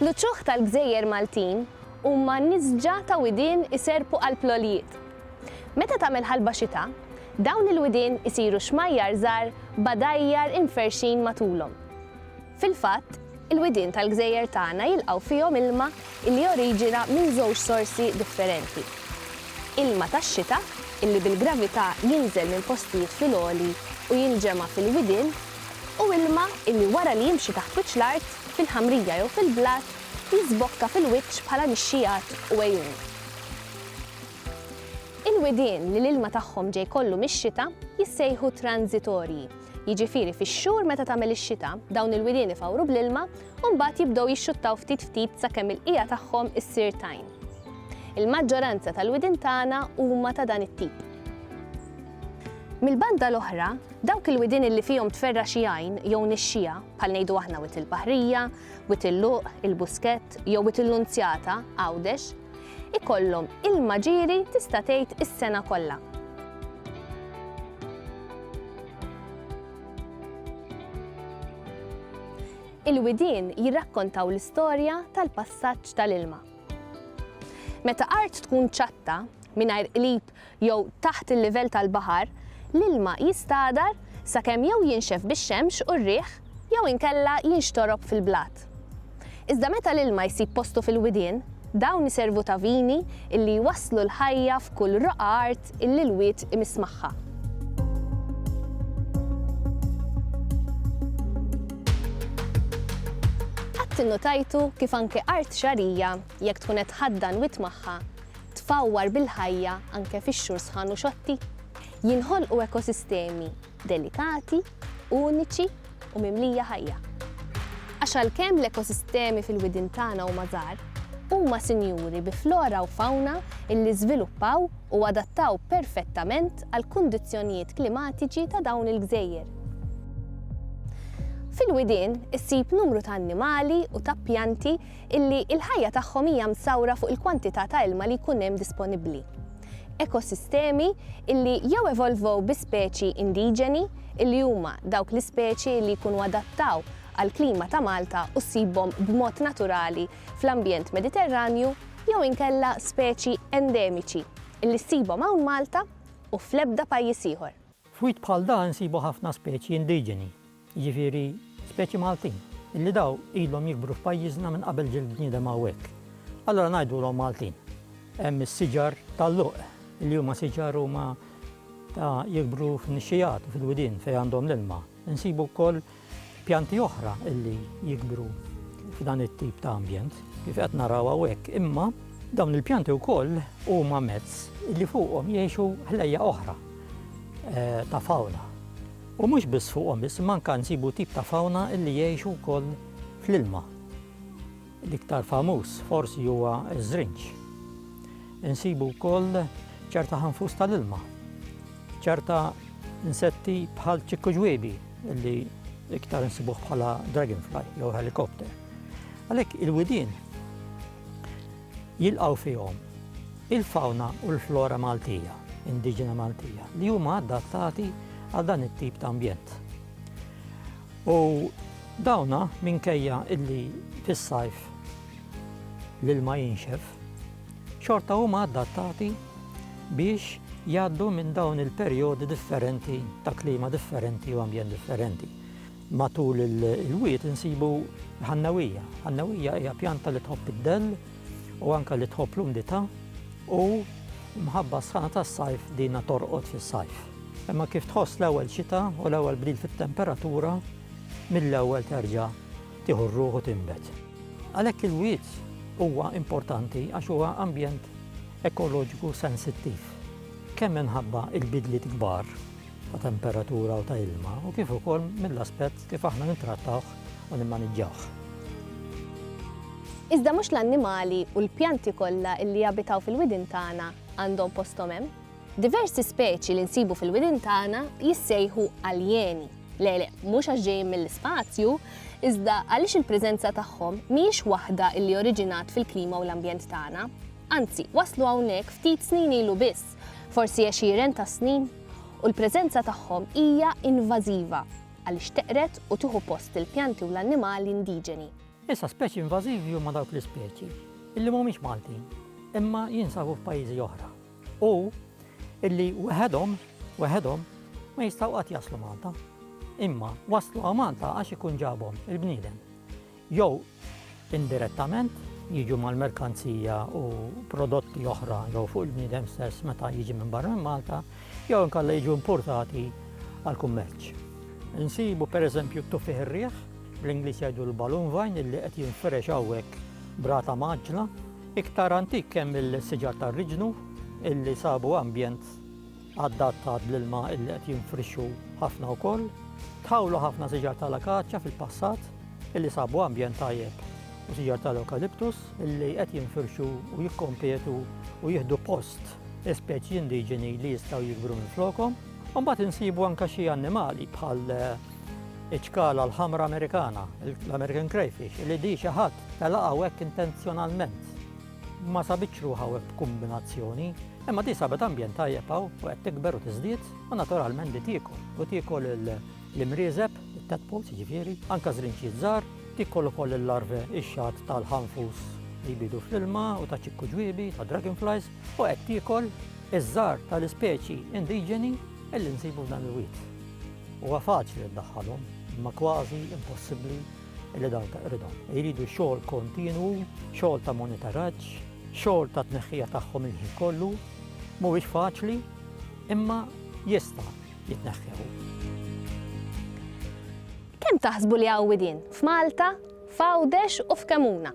L-uċuħ tal-gżejjer Maltin huma nisġa ta' widien iserrpu qalb l-għoljiet. Meta tagħmel ħalba xita, dawn il-widien isiru xmajjar żgħar b'għadajjar imferrxin matulhom. Fil-fatt, il-widien tal-gżejjer tagħna jilqgħu fihom ilma li joriġina minn żewġ sorsi differenti, ilma tax-xita li bil-gravità jinżel minn postijiet fil-għoli u jinġema' fil-widien, u ilma illi wara li jimxi taħt wiċċ l-art, fil-ħamrija jew fil-blat, jiżbokka fil-wiċċ bħala nixxiegħat u għejun. Il-widien li l-ilma tagħhom ġej kollu mix-xita jissejħu tranżitorji, jiġifieri fix-xhur meta tagħmel ix-xita, dawn il-widien ifawru bl-ilma u mbagħad jibdew jixxuttaw ftit ftit sakemm il-qiegħa tagħhom issir tajn. Il-maġġoranza tal-widien tagħna huma ta' dan it-tip. Mill-banda l-oħra, dawk il-widien li fihom tferra' xi għajn jew nixxiegħa, bħal ngħidu aħna Wied il-Baħrija, Wied il-Luq, il-Buskett jew Wied il-Nunzjata, Għawdex, ikollhom ilma ġieri tista' tgħid is-sena kollha. Il-widien jirrakkontaw l-istorja tal-passaġġ tal-ilma. Meta art tkun ċatta, mingħajr qlib jew taħt il-livell tal-baħar, l-ilma jistagħdar sakemm jew jinxef bix-xemx u r-riħ jew inkella jinxtorob fil-blat. Iżda meta l-ilma jsib postu fil-widien, dawn iservu ta' vini illi jwasslu l-ħajja f'kull roqgħa art illi l-wied imiss magħha. Qatt innutajtu kif anke art xagħrija, jekk tkun qed tħaddan wied magħha, tfawwar bil-ħajja anke fix-xhur sħan u xotti. Jinħolqu ekosistemi delikati, uniċi u mimlija ħajja. Għax għalkemm l-ekosistemi fil-widien tagħna huma żgħar, huma sinjuri bi flora u fawna illi żviluppaw u adattaw perfettament għall-kundizzjonijiet klimatiċi ta' dawn il-gżejjer. Fil-widien issib numru ta' annimali u ta' pjanti illi l-ħajja tagħhom hija msawra fuq il-kwantità ta' ilma li jkun hemm disponibbli. Ekosistemi illi jew evolvow bi speċi indiġeni, illi huma dawk l-ispeċi illi jkunu adattaw għall-klima ta' Malta u ssibhom b'mod naturali fl-ambjent Mediterranju, jew inkella speċi endemiċi illi ssibhom hawn Malta u fl-ebda pajjiż ieħor. F'wied bħal dan insibu ħafna speċi indiġeni, jiġifieri speċi Maltin, li daw ilhom jikbru f'pajjiżna minn qabel ġie l-bniedem hawnhekk. Allura ngħidulhom Maltin. Hemm is-siġar tal-luq, li huma siġar huma ta' jikbru f'nixxigħat u fil-widien fejn għandhom l-ilma. Insibu wkoll pjanti oħra li jikbru f'dan it-tip ta' ambjent, kif qed naraw hawnhekk, imma dawn il-pjanti wkoll huma mezz li fuqhom jgħixu ħlejjaq oħra ta' fawna. U mhux biss fuqhom iżma anke nsibu tip ta' fawna li jgħixu wkoll fl-ilma. L-iktar famuż forsi huwa ż-żrinġ. Insibu wkoll ċerta ħanfus tal-ilma, ċerta insetti bħal ċikku ġwiebi li iktar insibuh bħala dragonfly jew helicopter. Għalhekk il-widien Jilqgħu fihom il-fawna u l-flora Maltija, indiġena Maltija, li huma adattati għal dan it-tip ta' ambjent. U dawna minkejja illi fis-sajf l-ilma jinxef, xorta huma adattati biex jgħaddu minn dawn il-perjodi differenti ta' klima differenti u ambjent differenti. Matul il-wied insibu l-ħannewija. Ħannewija hija pjanta li tħobb id-dell u anke li tħobb l-umdità u mħabba s-sħana tas-sajf dinha torqod fis-sajf. Imma kif tħoss l-ewwel xita u l-ewwel bdil fit-temperatura, mill-ewwel terġa' tieħu r-ruħ u tinbet. Għalhekk il-wied huwa importanti għax huwa ambjent ekoloġiku sensittiv, kemm minħabba l-bidliet kbar, ta' temperatura u ta' ilma u kif ukoll mill-aspett kif aħna nittrattawh u nimmaniġġawh. Iżda mhux l-annimali u l-pjanti kollha li jabitaw fil-widien tagħna għandhom posthom hemm. Diversi speċi li nsibu fil-widien tagħna jissejħu aljeni, le le, mhux għax ġejjin mill-ispazju, iżda għaliex il-preżenza tagħhom mhijiex waħda li oriġinat fil-klima u l-ambjent tagħna. Anzi, waslu hawnhekk ftit snin ilu biss. forsi għexieren ta' snin, u l-preżenza tagħhom hija invażiva għaliex teqred u tieħu post il-pjanti u l-annimali indiġeni. Issa speċi invażivi huma dawk l-ispeċi illi mhumiex Maltin imma jinsabu f'pajjiżi oħra u illi weħedhom weħedhom ma jistgħu qatt jaslu Malta. Imma waslu għal Malta għax ikun ġabhom il-bniedem. jew indirettament, jiġu mal-merkanzija u prodotti oħra jew fuq il-bniedem stess meta jiġi minn barra minn Malta, jew inkella jiġu importati għall-kummerċ. Insibu pereżempju t-tuffiħ ir-riħ, bl-Ingliż jgħidu l-balloon vine illi qed jinfirex hawnhekk b'rata mgħaġġla, iktar antik hemm il-siġar tar-riġnu illi sabu ambjent adattat l-ilma illi qed jinfrixxu ħafna wkoll. Tħawlu ħafna siġar tal-akaċja fil-passat illi sabu ambjent tajjeb u siġar tal-ewkaliptus illi qed jinfirxu u jikkompetu u jieħdu post speċi indiġeni li jistgħu jikbru minn flokom. Mbagħad insibu anke xi annimali bħal iċkala l-ħamra Amerikana, l-American crayfish, li di xi ħadd telaqgħu hekk intenzjonalment. ma sabitx ruħha u b'kumbinazzjoni, imma di sabet ambjent tajjeb hawn u qed tikber u tiżdied u naturalment di tiekol. U tiekol l-imrieżeb, it-tadpoles jiġifieri, anke żrinċiet żgħar, tiekol ukoll il-larve ix-xagħat tal-ħanfus li jbidu fl-ilma u ta' ċikku ġwiebi, ta' dragonflies, u qed tiekol iż-żgħar tal-ispeċi indiġeni li nsibu f'dan il-wied. Huwa faċli ddaħħalhom, imma kważi impossibbli li dawn taqridhom. Iridu xogħol kontinwu, xogħol ta' monitoraġġ, xogħol ta' tneħħija tagħhom il-ħin kollu, mhuwiex faċli, imma jista' jitneħħew. Kemm taħsbu li għawidin f'Malta, f'Għawdex u f'Kemuna?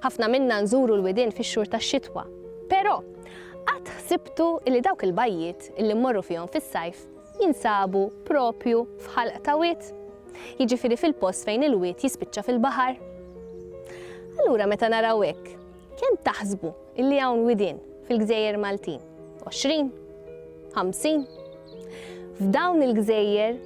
Ħafna minna nżuru l-widin fix-xhur tax-xitwa, però qatt ħsibtu li dawk il-bajjiet li mmorru fihom fis-sajf jinsabu proprju f'ħalq ta' wied, jiġifieri fil-post fejn il-wied jispiċċa fil-baħar. Allura meta naraw hekk, kemm taħsbu illi hawn widien fil-gżejjer Maltin? Għoxrin? Ħamsin? F'dawn il-gżejjer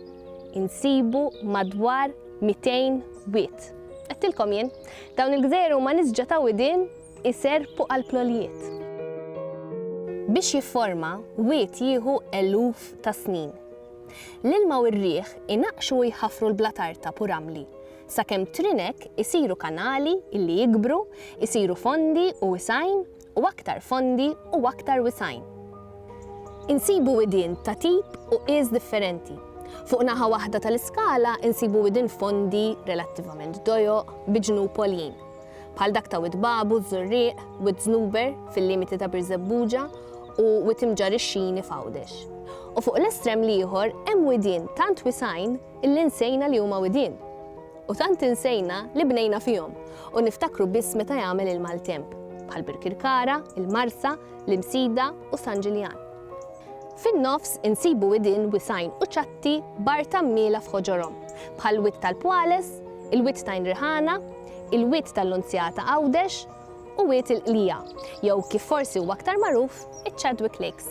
insibu madwar 200 wied. Għedtilkom jien, dawn il-gżejjer huma nisġa ta' widien Iserrpu għall-plolijiet. Biex jifforma, wied jieħu eluf ta' snin. L-ilma u r-riħ inaqqxu u jħaffru l-blat artab u ramli, sakemm trinek isiru kanali li jikbru, isiru fondi u wisgħin u aktar fondi u aktar wisgħin. Insibu widien ta' tip u qies differenti. Fuq naħa waħda tal-iskala insibu widien fondi, relattivament dojoq, bi ġnub għoljin. bħal dak ta' Wied Babu, Żurrieq, Wied Żnuber, fil-limiti ta' Birżebbuġa, u Wied Imġarr ix-Xini f'Għawdex. U fuq l-estrem l-ieħor hemm widien tant wisgħin illi nsejna li huma widien. U tant insejna li bnejna fihom u niftakru biss meta jagħmel il-maltemp, bħal Birkirkara, il-Marsa, l-Imsida u San Ġiljan. Fin-nofs insibu widien wisgħin u ċatti b'art għammiela f'ħoġorhom, bħal Wied tal-Pwales, il-Wied t'Għajn Riħana, il-Wied tal-Lunzjata Għawdex u Wied il-Qlija, jew kif forsi huwa aktar magħruf, iċ-Chadwick Lakes.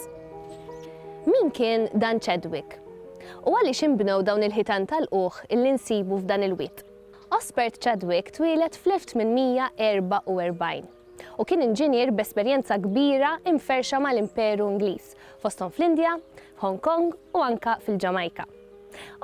Min kien dan Chadwick? U għaliex inbnew dawn il-ħitan ta' lqugħ li nsibu f'dan il-wied? Osbert Chadwick twieled fl-1844 u kien inġinier b'esperjenza kbira imferrxa mal-Imperu Ingliż, fosthom fl-Indja, f'Hong Kong u anke fil-Ġamajka.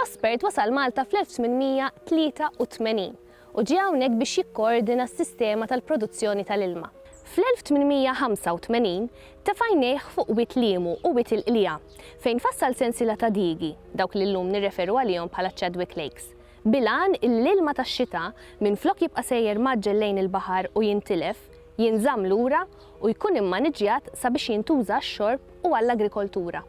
Osbert wasal Malta fl-1883. u ġie hawnhekk biex jikkoordina s-sistema tal-produzzjoni tal-ilma. Fl-1885 tefa' għajnejh fuq Wied Liemu u Wied il-Qliegħa, fejn fassal sensiela ta' diigi, dawk li llum nirreferu għalihom bħala ċ-Chadwick Lakes, bil-għan illi l-ilma tax-xita, minflok jibqa' sejjer mgħaġġel lejn il-baħar u jintilef, jinżamm lura u jkun immaniġġjat sabiex jintuża għax-xorb u għall-agrikoltura.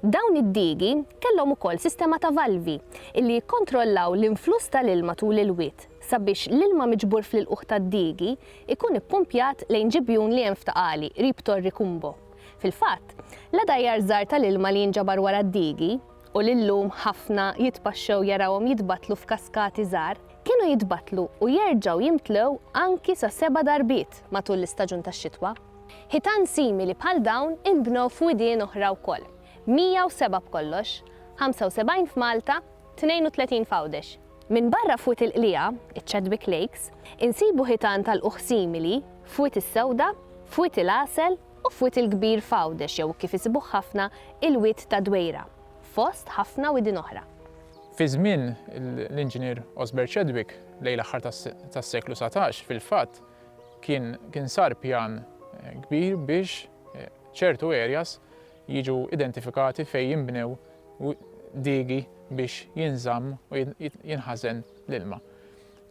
Dawn id-digi kellhom ukoll sistema ta' valvi li jikkontrollaw l-influss tal-ilma tul il-wied sabiex l-ilma miġbur fl-ilqugħ tad-digi jkun ippumpjat lejn ġibjun li hemm f'Ta' Qali qrib Torri Cumbo. Fil-fatt, la dgħajjar żgħar tal-ilma li jinġabar wara d-digi, u li llum ħafna jitpaxxew jarawhom jitbattlu f'kaskati żgħar, kienu jitbattlu u jerġgħu jimtlew anki sa seba' darbiet matul l-istaġun tax-xitwa. Ħitan simili bħal dawn inbnew f'widien oħra wkoll, 107 b'kollox, 75 f'Malta, 32 f'Għawdex. Minbarra f'Wied il-Qliegħa, iċ-Chadwick Lakes, insibu ħitan ta' lqugħ simili f'Wied is-Sewda, f'Wied il-Għasel u f'Wied il-Kbir f'Għawdex jew kif isibuh ħafna il-Wied tad-Dwejra, fost ħafna widien oħra. Fi żmien l-Inġinier Osbert Chadwick, lejn l-aħħar tas-seklu satax, fil-fatt, Kien kien sar pjan kbir biex ċertu areas jiġu identifikati fejn jinbnew diegi biex jinżamm u jinħażen l-ilma.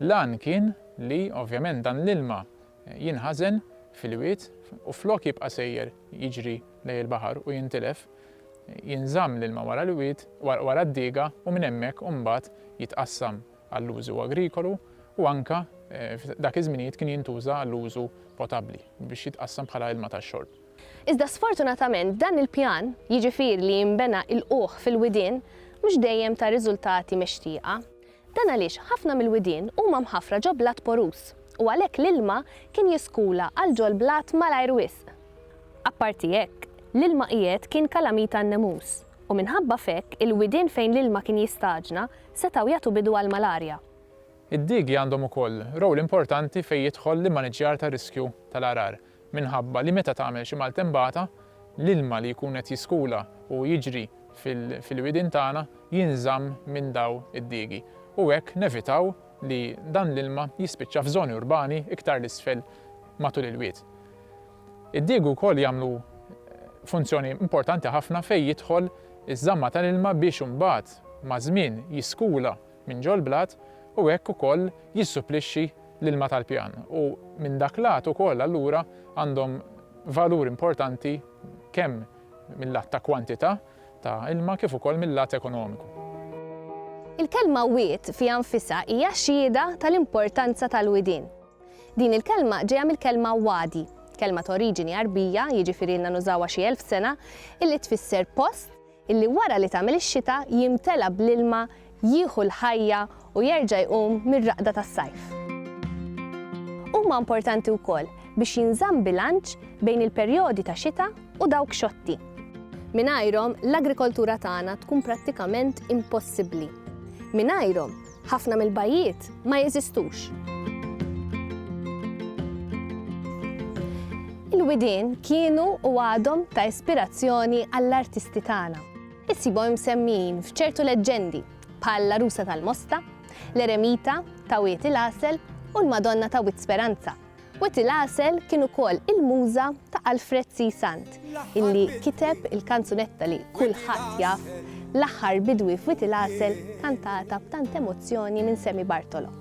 L-għan kien li ovvjament dan l-ilma jinħażen fil-wied u flok jibqa' sejjer jiġri lejn il-baħar u jintilef, jinżamm l-ilma wara l-wied, wara d-diga u minn hemmhekk imbagħad jitqassam. għall-użu agrikolu u anke f'dak iż-żminijiet kien jintuża għall-użu potabbli biex jitqassam bħala ilma tax-xorb. Iżda sfortunatament dan il-pjan, jiġifieri li jinbena ilqugħ fil-widien, mhux dejjem ta riżultati mixtieqa. Dan għaliex ħafna mill-widien huma mħaffra ġo blat poruż u għalhekk l-ilma kien jiskula għal ġo l-blat malajr wisq. Apparti hekk, l-ilma qiegħed kien kalamita għan-nemus. u minħabba f'hekk il-widien fejn l-ilma kien jistaġna setgħu jagħtu bidu għall-malarja. Id-diegi għandhom ukoll rowl importanti fejn jidħol l-immaniġġjar tar-riskju tal-għargħar minħabba li meta tagħmel xi maltembata, l-ilma li jkun qed jiskula u jiġri fil-widien tagħna jinżamm minn daw id-diegi u hekk nevitaw li dan l-ilma jispiċċa f'żoni urbani iktar 'l isfel matul il-wied. Id-digu wkoll jagħmlu funzjoni importanti ħafna fejn jidħol iż-żamma tal-ilma biex imbagħad maż-żmien jiskula minn ġol-blat u hekk ukoll jissupplixxi l-ilma tal-pjan u minn dak lat ukoll allura għandhom valur importanti kemm mil-lat ta' kwantità ta' ilma kif ukoll mil-lat ekonomiku. Il-kelma wied fiha nfisha hija xhieda tal-importanza tal-widien. Din il-kelma ġejja mill-kelma wadi, kelma ta' oriġini Għarbija, jiġifieri ilna nużawha xi elf sena, illi tfisser post illi wara li tagħmel ix-xita jimtela bl-ilma, jieħu l-ħajja u jerġa' jqum mir-raqda tas-sajf. Huma importanti wkoll biex jinżamm bilanċ bejn il-perjodi ta' xita u dawk xotti. Mingħajrhom, l-agrikoltura tagħna tkun prattikament impossibbli. Mingħajrhom, Ħafna mill-bajjiet ma jeżistux. Il-widien kienu u għadhom ta' ispirazzjoni għall-artisti tagħna. Issibhom imsemmijin f'ċertu leġġendi bħal l-Għarusa tal-Mosta, l-Eremita ta' Wied il-Għasel u l-Madonna ta' Wied Speranza. Wetty Lassel kien ukoll il-muża ta' Alfred C. Sant, illi kiteb il-kanzunetta li kulħadd jaf, L-Aħħar Bidwi f'Wetty Lassel kantata b'tant emozzjoni minn Sammy Bartolo.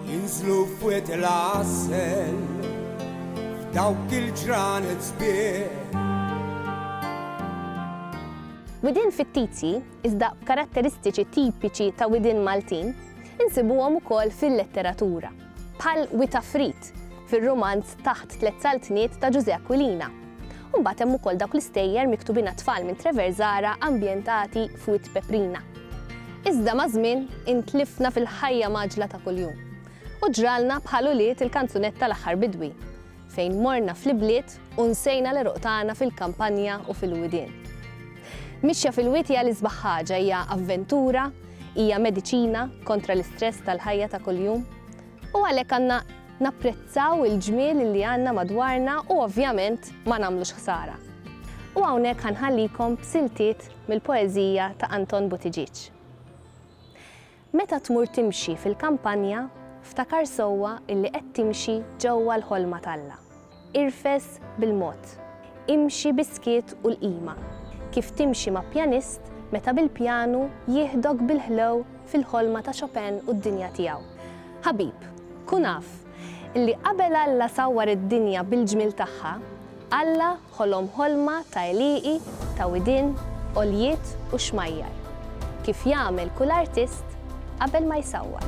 Jinżlu f'Wetty Lassel f'dawk il-ġranet sbieħ. Widien fittizji iżda b'karatteristiċi tipiċi ta' widien Maltin, insibuhom ukoll fil-letteratura, bħal Wi ta' Frid, fir-rumanz Taħt Tliet Saltniet ta' Ġużè Aquilina. U mbagħad hemm ukoll dawk l-istejjer miktubin għat-tfal minn Treverzara ambjentati f'Wied Peprina. Iżda maż-żmien intlifna fil-ħajja mgħaġġla ta' kuljum u ġralna bħal ulied il-kanzunetta L-Aħħar Bidwi, fejn morna fl-ibliet u nsejna l-għeruq tagħna fil-kampanja u fil-widien. Mixja fil-wied hija l-isbaħ ħaġa, hija avventura, hija mediċina kontra l-istress tal-ħajja ta' kuljum. U għalhekk għandna napprezzaw il-ġmiel li għandna madwarna u ovvjament ma nagħmlux ħsara. U hawnhekk ħanħallikom b'siltiet mill-poeżija ta' Anton Buttigieg. Meta tmur timxi fil-kampanja, ftakar sewwa illi qed timxi ġewwa l-ħolma t'Alla. Irfes bil-mod. Imxi bis-skiet u l-qima, kif timxi ma' pjanist meta bil-pjanu jieħdok bil-ħlew fil-ħolma ta' Chopin u d-dinja tiegħu. Ħabib, kun af Li qabel Alla sawwar id-dinja bil-ġmiel tagħha, Alla ħolom ħolma ta' għelieqi, ta' widien, għoljiet u xmajjar, kif jagħmel kull artist qabel ma jsawwar.